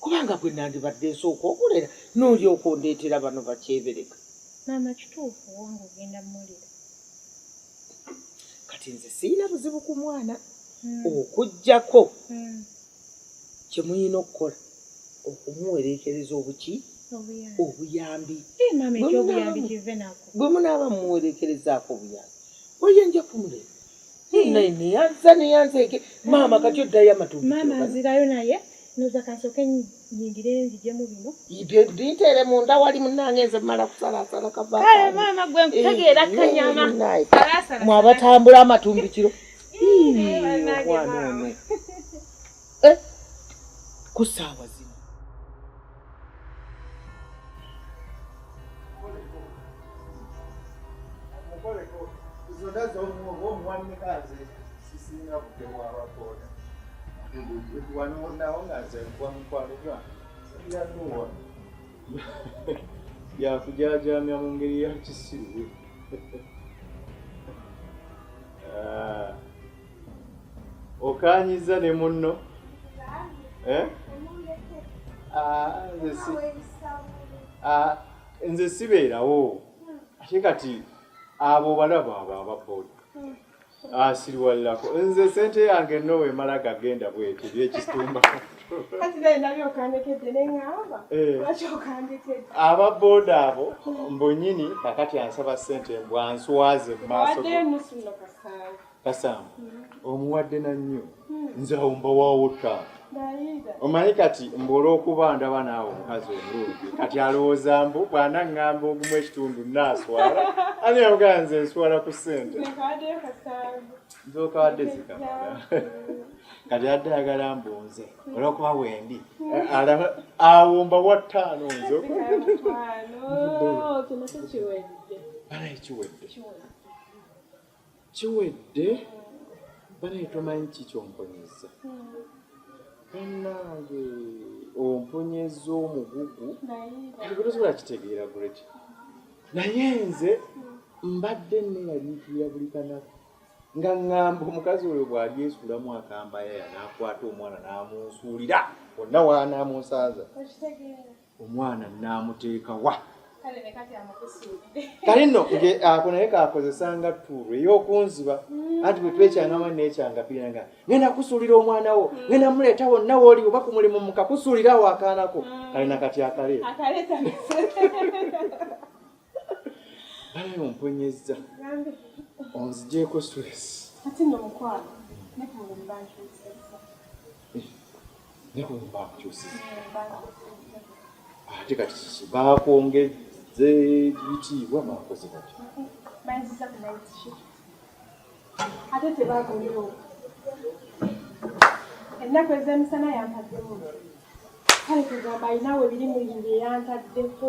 kubanga gwe nandibadde nsooka okulera n'olyoka ondeetera bano bakyebereka maama kituufu wange ogenda mulira kati nze sirina buzibu ku mwana hmm. okuggyako hmm. kye muyina okukola okumuwereekereza obuki obuyambi bwe munaaba mumuwereekerezaako obuyambi oyinja kumulera neyanza neyanza eke maama kati oddayo amatunda maama nzirayo naye noza kansoke nyingire nzijemu bino ibyo bintere munda wali munange nze mala kusalasala kava kale maama gwe nkutegeera eh, kanyama mwaba tambula amatumbi kiro mwana ono eh, ku saawa zino yakujaajamya mu ngeri ya kisiru ah. okaanyiza ne munno eh? ah, ah, nze sibeerawo ate kati abo balaba abo ababoda asiriwalirako ah, nze sente yange nowe emala gagenda bwete byekitumba eh. aba boda abo mbunyini kakati ansaba sente mbwanswaze mumaaso kasamba mm-hmm. omuwadde nannyo mm. nze awo mbawawo taata omanyi kati mbu olwokuba ndaba naawe omukazi omulungi kati alowooza mbu bwana ŋŋamba ogumu ekitundu naaswala ani yamugaa nze nswala ku ssente nzokawadde zikamala kati adde ayagala mbu nze olwokuba wendi awo mba wa ttaano nzo bana ekiwedde Kiwedde banaye tomanyi ki kyomponyezza banange ompunyezza omugugu tosobola kitegeera gret naye nze mbadde neyaliikirira buli kanaku nga ŋŋamba omukazi oyo bw'ali esuulamu akambayaya n'akwata omwana n'amunsuulira onna waanaamunsaaza omwana naamuteeka wa kale nno ako naye kakozesanga tuulu ey'okunziba mm. anti bwe twekyangama nekyangapira nga ngenda kusuulira omwana wo mm. ngenda muleeta wonna wooli oba ku mulimu mukakusuulira awo akaanako mm. kale nakati akaleeta balabe omponyezza onzijeeko stress ate kati kiki bakwongeze bitiibwa bakoze batya ate tebaguliwo ennaku ezemisana yampaddemu kale kugamba alinawe biri muyimbi eyantaddeko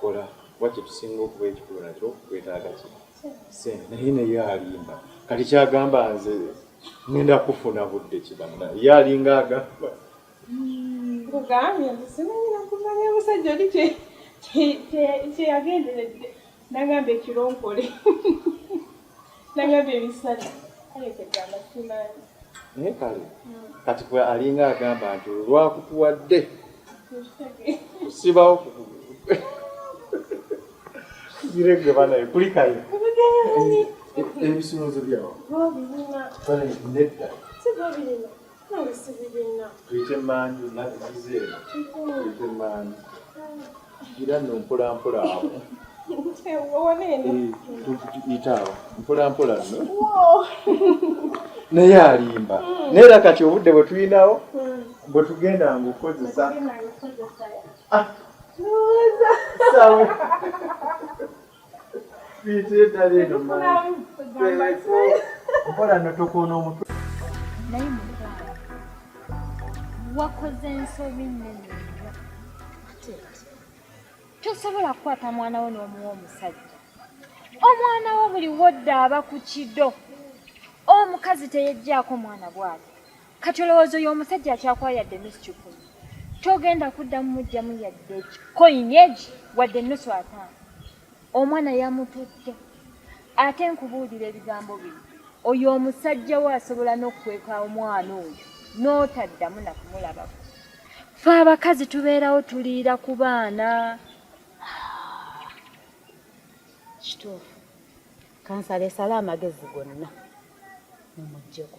Kola kuba kyetusinga okuba ekikulu nakyo kwetaaga ki sente naye naye alimba kati kyagamba nze ngenda kufuna budde kibanna ye alinga agamba nkugambye nti simanyi nakumanya musajja oli kyeyagenderedde nagamba ekironkole naye kale kati kwe alinga agamba nti olwakutuwadde kusibawo ziregwe banaye kulikayo ebisolozo byawo nedda tuyite manju nabizize eno tuyite manju gira no mpolampola awo tuyita awo mpolampola no naye alimba hmm. naye era kati obudde bwe tulinawo hmm. bwe tugenda nga okukozesa ah. okola notokoona omutwe naye mukwano wakoze ensobi nnene tosobola kukwata mwana wo n'omuwa omusajja omwana wo buli wodda aba ku kido omukazi teyejjaako mwana bwati kati olowooza oyo omusajja akyakwayadde mischuku togenda kuddamu mujjamu yadde koinyeji wadde ennusu ataano omwana yamututte ate nkubuulira ebigambo bino oyo omusajja we asobola n'okukweka omwana oyo n'otaddamu nakumulabako fe abakazi tubeerawo tuliira ku baana kituufu kansala esala amagezi gonna mumujjeko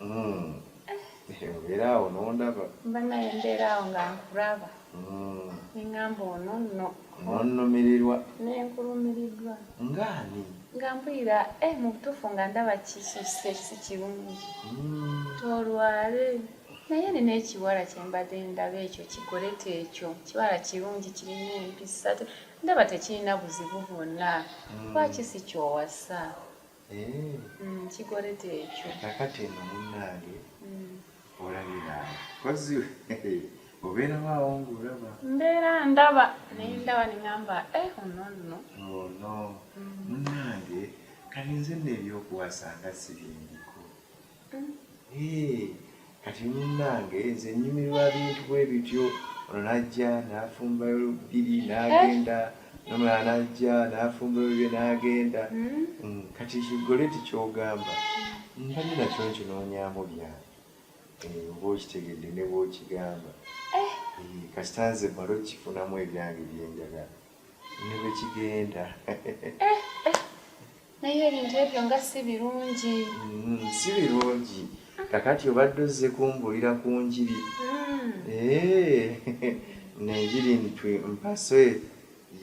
Mm. Obeera awo n'ondaba. Banaye mbeera awo nga nkulaba. Mm. Ne ngamba ono nno. N'onnumirirwa. Ne nkulumiriddwa. Nga ani? Nga mpulira eh mu butuufu nga ndaba kisusse si kirungi. Mm. Tolwale. Naye nina ekiwala kye mbadde ndaba ekyo kigolete ekyo. Kiwala kirungi kirina empisa. Ndaba tekirina buzibu bwonna. Mm. Lwaki si ky'owasa? Mm, kikolete ekyo kakati eno munnange mm. olabira kozi obeerawo awo ngaolaba mbeera ndaba naye ndaba nengamba eh, ono nno ono oh, mm. munnange kati nze nno ebyokuwasa nga sibindiko kati munnange nze nnyumirwa bintu bwe bityo ono n'ajja n'afumbayo olubiri n'agenda nomulala n'ajja n'afumbayo bye n'agenda hmm? mm, kati kigole tikyogamba mbadde nakyo nkinoonyamu byange eh, oba okitegedde ne bwokigamba eh. eh, kasita nze mala okifunamu ebyange byenjagala ne bwe kigenda eh, eh. naye ebintu ebyo nga si birungi mm, si birungi kakati obadde ozze kumbulira ku njiri mm. eh, nenjiri ntwe mpaso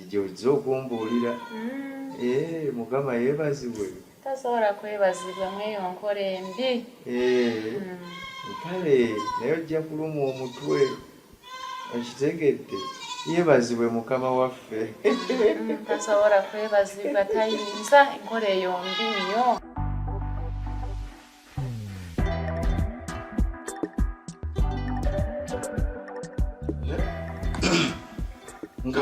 gyozze okumbuulira mm. mukama yebazibwe tasobola kwebazibwa mweyo nkola embi kale naye ojja kuluma omutwe okitegedde yebazibwe mukama waffe mm, tasobola kwebazibwa tayinza enkola eyo mbi nnyo nga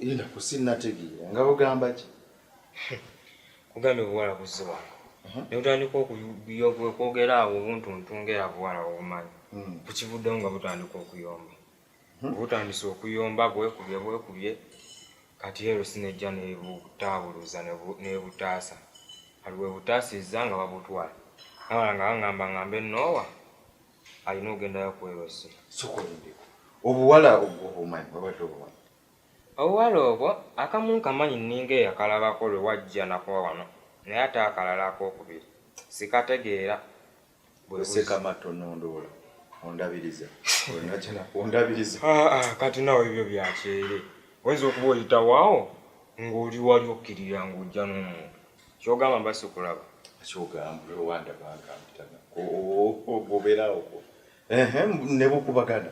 enda kusinnategeera nga bugamba ki kugambye obuwala buzze wano uh-huh. ne butandika okwogera awo obuntuntu ng'era buwala obumanyi hmm. kukivuddewo nga butandika okuyomba uh-huh. butandise okuyomba bwekubye bwekubye kati ero sinejja nebutaabuluza nebutaasa kati bwebutaasizza nga babutwala nawala nga baŋamba ŋambe noowa alina okugendayo kwerosi obuwala obwo obumanyi babadde obumanyi Obuwala obwo akamu nkamanyi nninga eyakalabako lwe wajja nako wano naye ate akalala akookubiri sikategeera. Bwe buzzi. Tonondoola ondabiriza olwo najja nakundabiriza. Haa kati nawe ebyo bya kyeere. Oyinza okuba oyitawo awo ng'oli wali okkirira ng'ojja n'omuntu. Ky'ogamba mba sikulaba? Ky'ogamba lwe wandaba nga mpita nako obeera awo. Ehe ne bukubagana.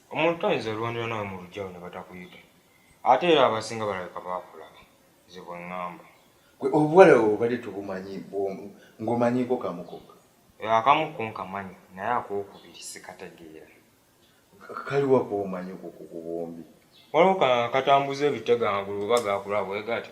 omuntu toyinza olwanira nawe mu lugyawo ne batakuyita ate era abasinga balabika baakulaba nze bwe ŋŋamba gwe obuwala bwe bubadde tubumanyi ng'omanyiiko kamu kokka akamu ko nkamanyi naye akookubiri sikategeera kaliwa k'omanyi ku bombi waliwo katambuza ebitega amagulu oba gaakulaba bwe gatyo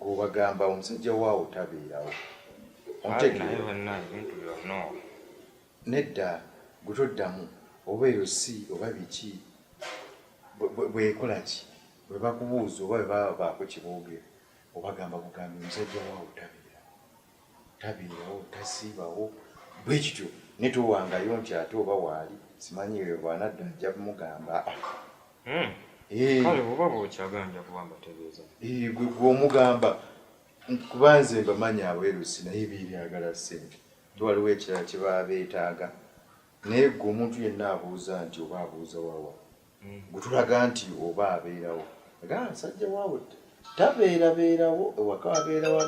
gwobagamba omusajja waawo tabeerawo nedda gutoddamu oba eyo si oba biki bwekola ki bwebakubuuza oba bebaba baako kiboogera obagamba bugambi omusajja waawo tabeerawo tabeerawo tasiibawo bwe kityo ne towangayo nti ate oba waali simanyi eyo bwanadda ajja mugamba hmm. eh. kale oba bwokyaganja kuba mbategeeza eh, gwe gwomugamba kuba nze mbamanyi abwerusi naye biryagala ssente nti waliwo ekirala kye baba beetaaga naye gwe omuntu yenna abuuza nti oba abuuza wawa gutulaga nti oba abeerawo era nsajja waawe tabeerabeerawo ewaka abeerawo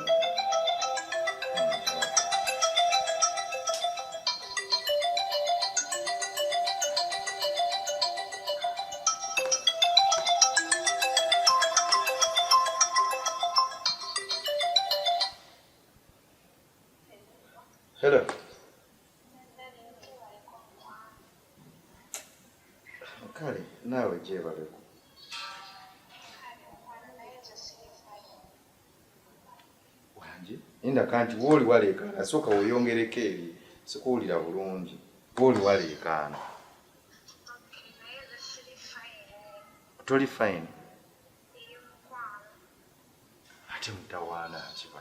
kale naawe gyebaleko wangi inda kanti wooli waleekaana sooka weyongereko eri sikuwulira bulungi wooli waleekaana toli fine ate mutawaana akiba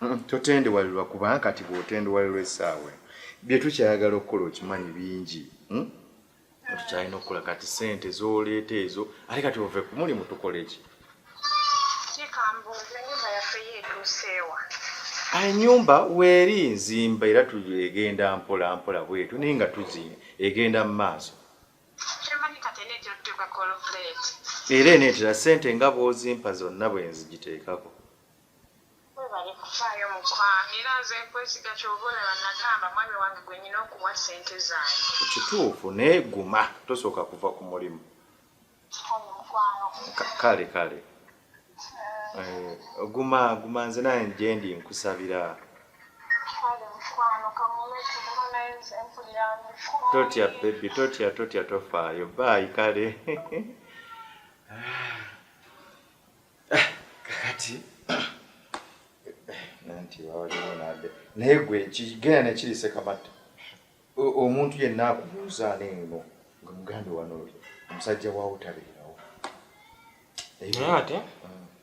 Mm, totendewalirwa kubanga kati bwotendewalirwa esaawa bye tukyayagala okukola okimanyi bingi mm? tukyalina okukola kati sente zoleeta ezo ate kati ove kumulimu tukola eki enyumba weeri nzimba era egenda mpola mpola bwetu naye nga tuzi egenda mu maaso era eneetera ssente nga bw'ozimpa zonna bwe nzigiteekako webale kufaayo mukwano era nze nkwesiga kyova olaba nagamba mwami wange gwenyina okuwa sente zange kituufu naye guma tosooka kuva ku mulimu kale kale Eh, guma guma nze naye gyendi nkusabira totya bebi totya totya tofaayo baayi kale ah, kakati nanti wawaliwo nade naye gwe kigenda nekiri sekamatta Omuntu yenna akubuuza ani eno nga mugambe wano oli omusajja wa utabeerawo. Naye ate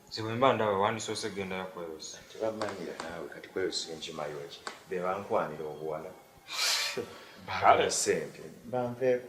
nze bwe mba ndaba wandisoose gendayo kweyosa. Tebamanyira naawe kati kweyosa enkimayo ki be bankwanira obuwala. Kale sente banveeko.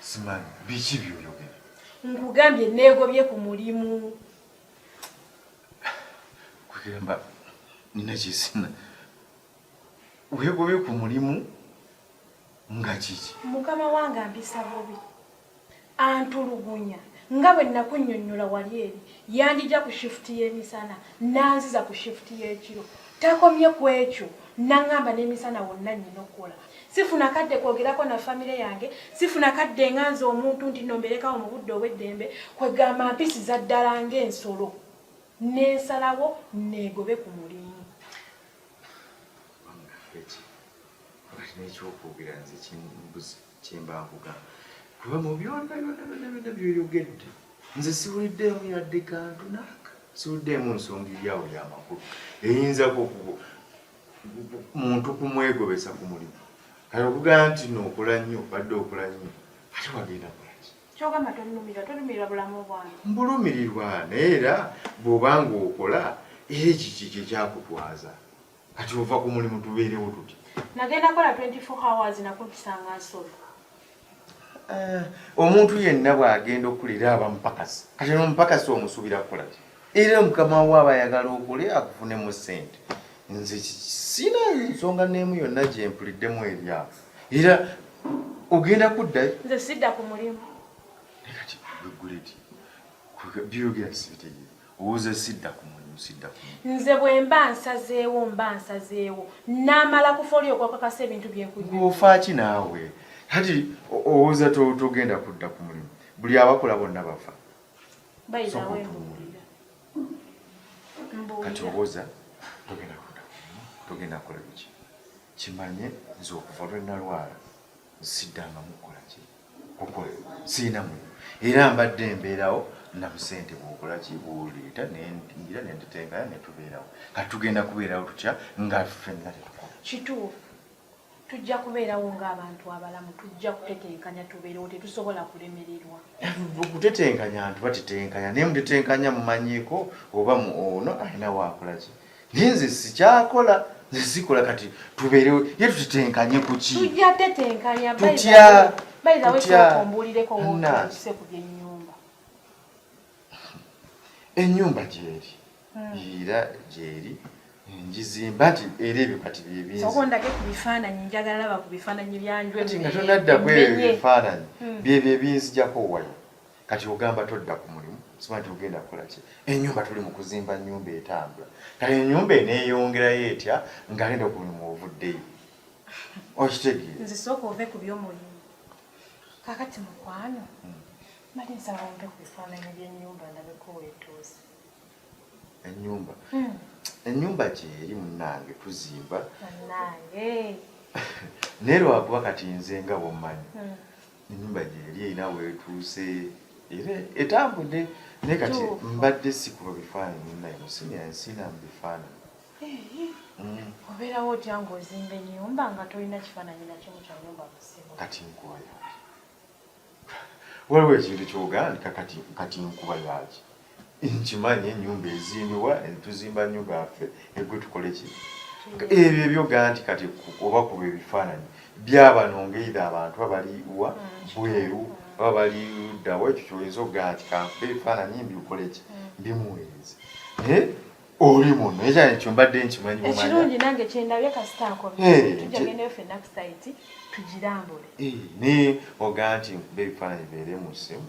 simanyi biki byoyogera nkugambye neegobye ku mulimu kugamba nina kyesina weegobye ku mulimu nga kiki mukama wange ampisa bubi Antulugunya nga bwe nakunnyonnyola wali eri, yanjija ku shifuti y'emisana n'anziza ku shifuti y'ekiro. Takomye ku ekyo n'ang'amba n'emisana wonna nnina okukola. Sifuna kadde kwogerako na famire yange, sifuna kadde nga nze omuntu nti nno mbeereko awo mu budde obw'eddembe kwegamba mpisiza ddala ng'ensolo ne nsalawo nneegobe ku mulimu. Wamma Ffeti, wakati n'ekyokwogera nze kimbuze. kyemba nkugamba kuba mu byonna byonna byonna byonna byoyogedde nze siwuliddeemu yadde kantu naaka siwuliddeemu nsonga eryawo yamakulu eyinzako muntu kumwegobesa ku mulimu kale okugamba nti nookola nnyo badde okola nnyo ate wagenda kulaki kyogamba tolumirwa tolumirwa bulamu bwange mbulumirirwa naye era bw'oba nga okola era ekiki kyekyakutwaza Kati ova ku mulimu tubeerewo tutya? Nagenda kola 24 hours nakumpisanga nsolo. Eh, omuntu yenna bw'agenda okukulira aba mupakasi. Kati n'omupakasi omusuubira kukola ki? Era mukama wo aba ayagala okole akufunemu ssente. Nze sina nsonga n'emu yonna gye mpuliddemu ebyabo. Era ogenda kuddayo? Nze sidda ku mulimu. Kati bwe guleti byogera sibitegeera. owoze sidda ku mulimu sidda ku nze bwe mba nsazeewo mba nsazeewo n'amala kufa oli okwakakasa ebintu byenkuofaaki naawe kati owoza togenda kudda ku mulimu buli abakola bonna bafa kati owoza togenda kudda ku mulimu togenda kukola biki kimanye nze okuva lwe nalwala nsiddangamu kukola ki Okwe sirina mu era mbadde mbeerawo na busente bwokola kibuuleeta nengira nenditengana netubeerawo kati tugenda kubeerawo tutya nga fenna tetukola kituufu tujja kubeerawo ng'abantu abalamu tujja kutetenkanya tubeerewo tetusobola kulemererwa okutetenkanya ntu batetenkanya naye mutetenkanya mumanyiiko oba mu ono alina waakolaki naye nze sikyakola nze sikola kati tubeerewo ye tutetenkanye kuki tujja tetenkanya tutya bayizaweombuulireko ngotuse ku byenyumba enyumba gyeri hmm. era gyeri njizimba nti era ebyo kati byebinzisokondage ku bifaananyi njagala laba ku bifaananyi byanjwenga tonadda kweyo ebifaananyi hmm. byebyo ebinzijako wayo kati ogamba todda ku mulimu siba nti ogenda kukola ki enyumba tuli mu kuzimba nyumba etambula kati enyumba eneyongerayo etya nga agenda ku mulimu ovuddeyo okitegeera nze sooka ove ku byomulimu kakati mukwano hmm. mali nsaba ompe ku bifaananyi byenyumba ndabeko wetuuse enyumba hmm. enyumba gyeri munange tuzimba naye lwakuba kati nze nga bwomanyi hmm. ennyumba gyeri erina weetuuse era etambudde naye kati mbadde sikuba bifaananyi naye musini ensina mu bifaananyi mm. obeerawo otya ng'ozimba ennyumba nga tolina kifaananyi nakimu kya nyumba musimu kati nkubayo waliwo ekintu kyogaani kati nkuba yaki nkimanyi enyumba ezimbibwa tuzimba nyumba yaffe egwe tukole ki ebyo ebyo ganti kati oba kuba ebifaananyi byabano ngaeidha abantu abali wa bweru aba bali ddawa ekyo kyoyinza okugamba nti kankuba ebifaananyi mbiukole ki mbimuweereze naye oli muno ekyana ekyo mbadde nkimanyi ekirungi nange kyendabye kasita nkotujagendayo fenna ku saiti tugirambule naye oga nti nkuba ebifaananyi beere mu ssimu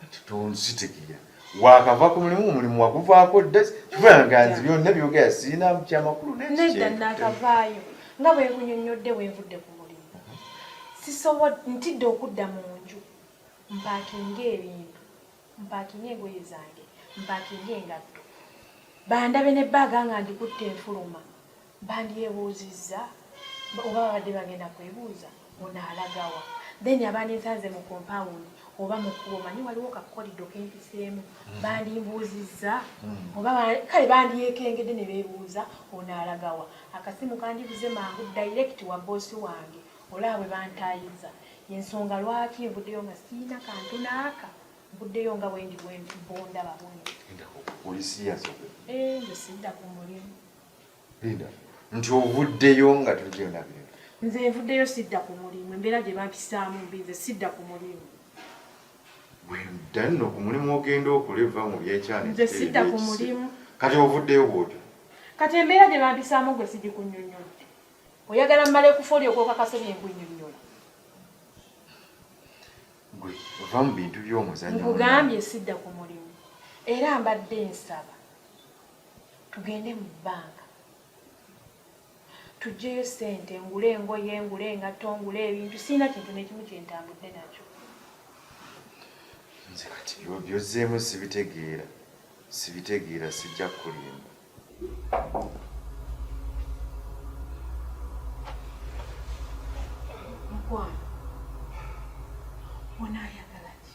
Kati tonzitegeera. Waakava ku mulimu, omulimu waguvaako dda, kivula nga nze byonna byogera sirina kyamakulu n'ekikye. Nedda nnaakavaayo nga bwe nkunyonnyodde bwe nvudde ku mulimu. Sisobodde, ntidde okudda mu nju mpaakinge ebintu, mpaakinge engoye zange, mpaakinge engatto, bandabe ne bbaaga nga ngikutte nfuluma. bandyebuuzizza oba babadde bagenda kwebuuza ono alagawa then abandinsanze mu compound oba mu kkubo manyi waliwo kakolido kempiseemu mm. bandimbuuzizza mm. oba kale bandyekengedde ne beebuuza ono alagawa akasimu kandibuze mangu direct wa boosi wange olaba bwe bantaayiza ensonga lwaki nvuddeyo nga siina kantu naaka mbuddeyo nga bwendi bondaba bwenti eh, nze sidda ku mulimu nti ovuddeyo nga tugenda bino nze nvuddeyo sidda ku mulimu embeera gye bampisaamu mbi nze sidda ku mulimu danno ku mulimu ogenda okole va mu byekyana nze sidda ku mulimu kati ovuddeyo bwotyo kati embeera gye bampisaamu gwe sigikunyonyola oyagala mmale kufa oli okwokakase bye nkunyonyola gwe ova mu bintu by'omuzanyo nkugambye sidda ku mulimu era mbadde nsaba tugende mu bbanka tuggyeyo ssente ngule engoye ngule engatto ngule ebintu sirina kintu nekimu kyentambudde nakyo nze kati byozzeemu sibitegeera sibitegeera sijja kulimba mukwano onaayagala ki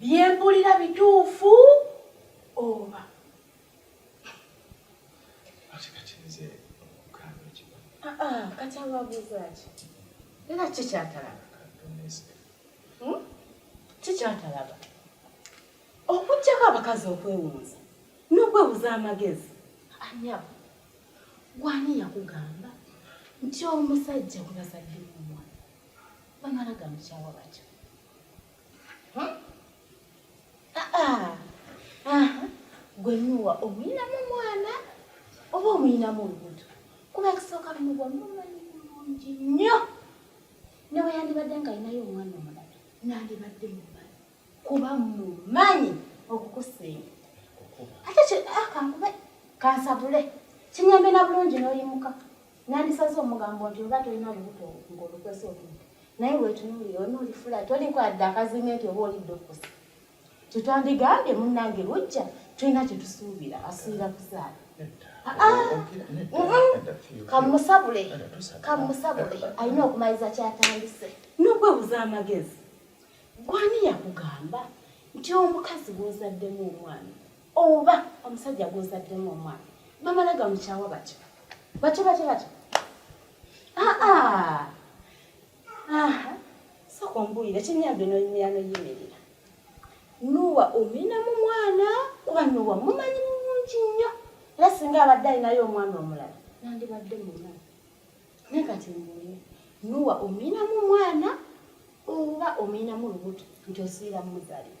Byempulira bituufu oba? Ah, ah, kati ababuuzaaki era kikyatalaba hmm? kikyatalaba okujjako abakazi okwewunza n'okwebuza amagezi anyabo gwani yakugamba nti omusajja gwe bazadde omwana bamala gamukyawa batyo gwe nuwa omuyinamu mwana oba omuyinamu olubuto kuba ekisooka muwa mumanyi bulungi nnyo newe yandibadde nga alinayo omwana omulala nandibadde mumanyi kuba mumanyi okukusinga ate ah, kankube kansabule kinyambe na bulungi n'oyimuka Nandisaze omugambo nti oba tolina lubuto ng'olukwese otudde naye wetunuulira ono olifula toliko adde akazinga nti oba olidde okusa kyetwandigambye munnange lujja tulina kyetusuubira asuubira kuzaala kamusabule kamusabule alina okumaliza kyatandise nokwebuza amagezi gwani yakugamba nti omukazi gwozaddemu omwana oba omusajja gwozaddemu omwana bamala gamukyawa batyo batyo batyo batyo aa ah, ah. aha sooka ombuulire kinyambe noyimira noyimirira nuwa omina mu mwana kuba nuwa mumanyi mulungi nnyo era singa abadde alinayo omwana omulala nandibadde muna naye kati mbuulire nuwa omina mu mwana oba omina mu lubuto nti osiira mumuzalira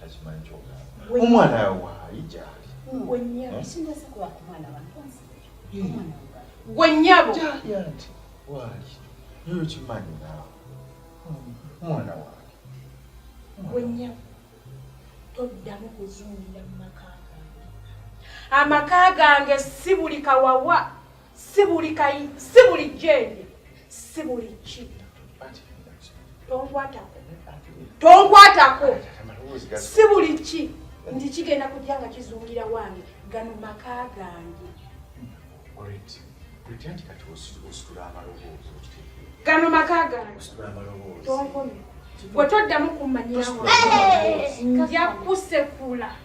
takimanyi kyogamba omwana waali gyali gwe nyabo nti waali yoyo kimanyi naawe omwana waali gwe nyabo toddamu kuzungirira mu maka gange amaka gange si buli kawawa si buli kayi si buli jjendi si buli ki tonkwatako tonkwatako si buli ki nti kigenda kujja nga kizungira wange gano maka gange gano maka gange tonkomye bwe toddamu kummanyirawo nja kusekula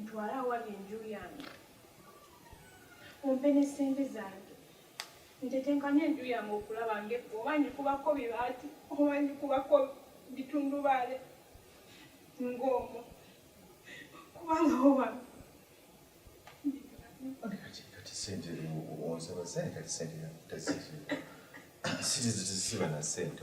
ntwale awali enju yange ompe ne ssente zange ntetenkanye enju yange okulaba nge oba ngikubako bibaati oba ngikubako bitundubaale ng'omu kubanga oba onsaba sente kati sente tazisiba na sente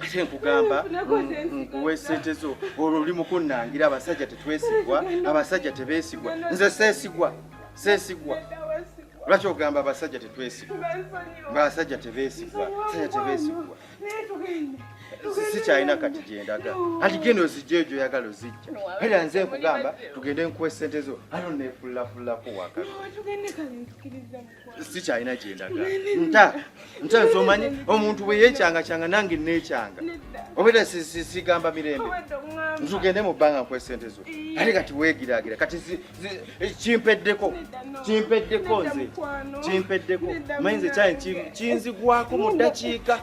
ate nkugamba nkuwa esente zo olwo oli mukunnangira abasajja tetwesigwa abasajja tebesigwa nze sesigwa sesigwa lwaki ogamba abasajja tetwesigwa basajja tebesigwa basajja tebesigwa sikyalina kati gyendaga ati genda ozijja egyo oyagala ozijja era nze nkugamba tugende nkuwa esente zo ano nefullafulako wakati sikyalina gyendaga nta nta nsomanyi omuntu bwe yeecangacanga nange neecanga obera sigamba mirembe ntugende mu bbanga nkuwa esente zo ate kati weegiraagira kati eh, kimpeddeko kimpeddeko nze kimpeddeko manyi nze kyali kinzigwako mu ddakiika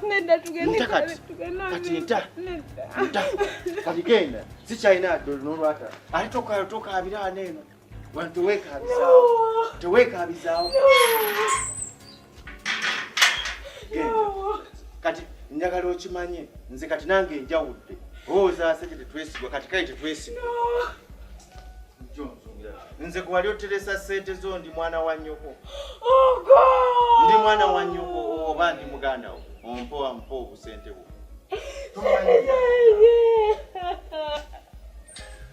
nta kati kati nta nta kati genda sikyalina n'olwata ate tokaabira aneeno kati njagala okimanye nze kati nange enjawudde owozaase tetwesigwa kati kale tetwesigwa nze kwewali oteresa sente zo ndi mwana wa nyoko oh, ndi mwana wa nyoko oba ndi muganda wo ompo ampa obusente bwo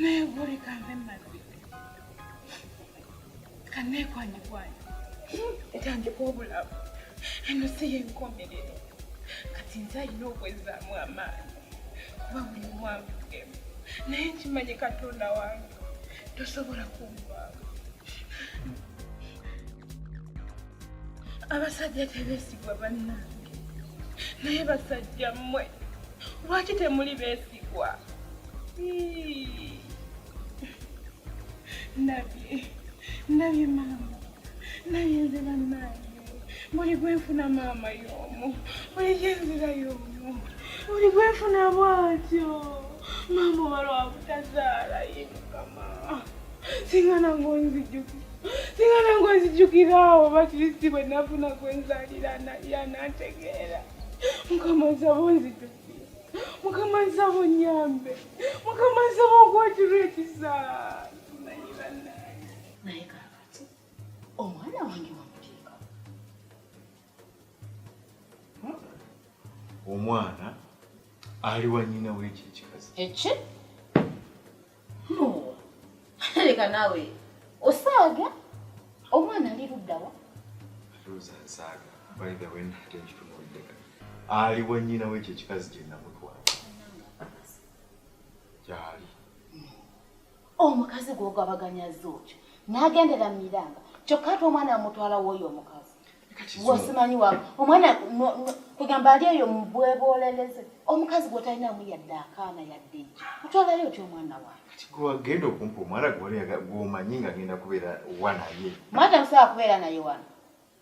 naye bwoleka nve mumazzi kanneekwanyikwanya etandika obulamu eno si yenkomerero kati nze alina okwezaamu amaanyi kuba buli omu anvugemu naye nkimanyi katonda wange tosobola kunvaamu abasajja tebesigwa bannange naye basajja mmwe lwaki temuli besigwa nabye nabye maama naye nze bannange buli gwenfuna maama y'omu buli gyenzira y'omu buli gwenfuna bwatyo maama oba lwabutazaala ye mukama singa nange onzijukira singa nange onzijukira awo bakirisi bwe nafuna gwenzalira naye anategeera mukama nsaba onzijukira mukama nsaba onyambe mukama nsaba okwatirwa ekisa omwana wange wamuteeka hmm? omwana ali wa nyina w'ekyo ekikazi eki leka naawe osaaga omwana ali luddawa rosa nsaaga by the way nate nkitunulidde ali wa nyina w'ekyo ekikazi gye namutwala gyali omukazi gwogabaganya zooki nagendera mu miranga kyokka ate omwana amutwala woyo omukazi wasimanyi wa omwana kugamba ali eyo mubwebooleleze omukazi gwotalinamu yadde akaana yadde eki otwalayo otya omwana wagenda okumpa omwana gwomanyi nga agenda kubeera wanaye mwana musobola kubeera naye wano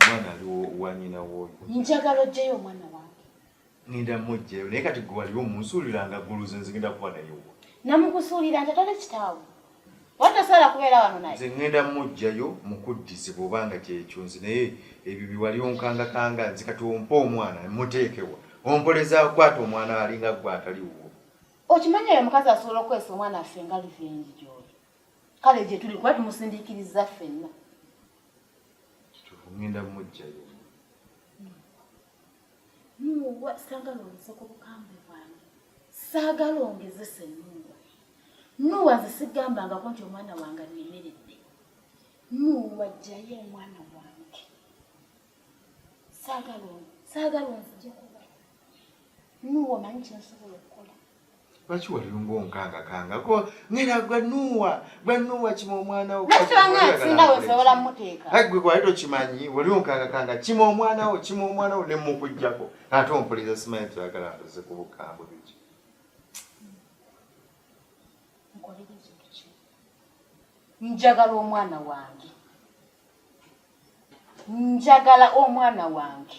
omwana ali wanyina woyo njagala ojjeyo omwana wange ngenda mujjeyo naye kati gwe waliwo munsuulira nga guluze nze ngenda kuba nayewo namukusuulira nti atale kitaawo watasobola kubeera wano naye nze ngenda mujjayo mukuddize bwoba nga kyekyo nze naye ebyo biwali onkangakanga nze kati ompa omwana muteekewa ompoleza kwata omwana alinga gwe atali wuwo okimanyi oyo omukazi asobola okukozesa omwana affe nga livengi gyoli kale gyetuli kuba tumusindiikiriza ffenna kituufu ngenda mujjayo muwa saagala ongeze ku bukambe bwange saagala ongezesa ennyumba nuwa nze sigambangako nti omwana wange annemeredde nuwa jjayo omwana wange saagala saagala onzije kuba nuwa omanyi kyensobola okukola lwaki waliro ngaonkanga kanga ko ngera gwa nuwa gwa nuwa kima omwana wo gwe kwali tokimanyi wali onkanga kanga kima omwana wo kima omwana wo nemukujjako ate ompuliza simanyi tuyagala ntuze ku bukambwe biki njagala omwana wange njagala omwana wange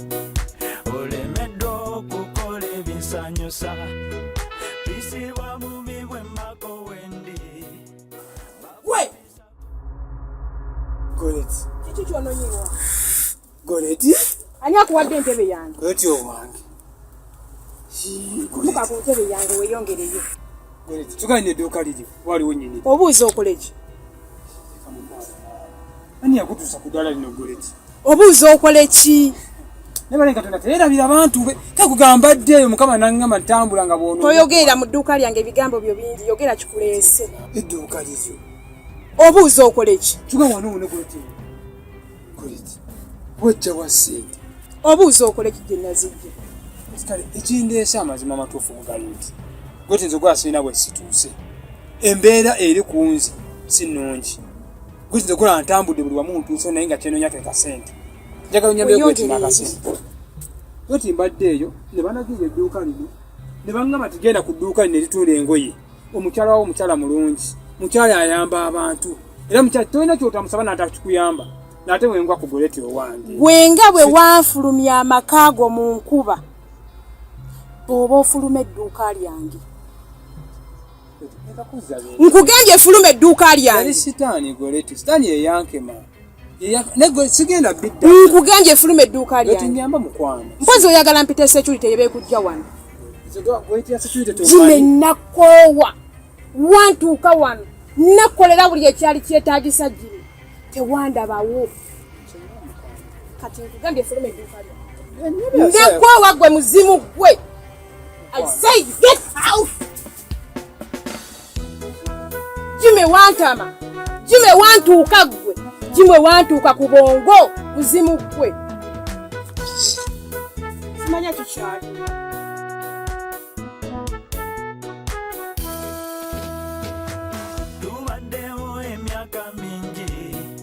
olemeddwa okukola ebinsanyusa bisiba bubi bwemako wendi we gonet kiki kyononyiwa gonet ani akuwadde entebe yange gonet owange muka ku ntebe yange weyongereyo tugane edduuka liri waliwo nyini obuuza okoleki ani yakutuusa ku ddala lino goleti obuuza okole ki nabalenga tona teerabira abantu be kakugamba ddeeyo mukama nangamba ntambula nga bwono toyogeera mu dduuka lyange ebigambo byo bingi yogera kikuleese edduuka liryo obuuza okola eki kiga wano wona koleti koleti wajja wa sente obuuza okola eki gye nazijja kale ekindeesa amazima amatuufu kugali nti gwe tinza okuba sirina bwe situuse embeera eri ku nze si nnungi Kuzi nze kola ntambudde buli wamu ntuuse naye nga kyenonya ke kasente njagala onyambe kwetima akasente kati mbadde eyo ne banagira edduuka lino ne bangamba tugenda ku dduuka lino eritunda engoye omukyala wawo omukyala mulungi mukyala ayamba abantu era mukyala tolina kyotamusaba naata kikuyamba naate wengwa ku goleti owange gwenga bwe wanfulumya amaka ago mu nkuba oba ofuluma edduuka lyange nkugambye efuluma edduuka lyange nkugambye efuluma edduuka lyange mpozi oyagala mpita security yebekujja wano zime nakoowa wantuuka wano nakolera buli ekyali kyetagisa giri tewandabawo kati nkugambye efuluma edduuka lyange nakoowa gwe muzimu gwe I say you get out. Jimmy wantama. Jimmy wantuuka gwe. Jimmy wantuuka ku bongo muzimu gwe. Simanya kikyali.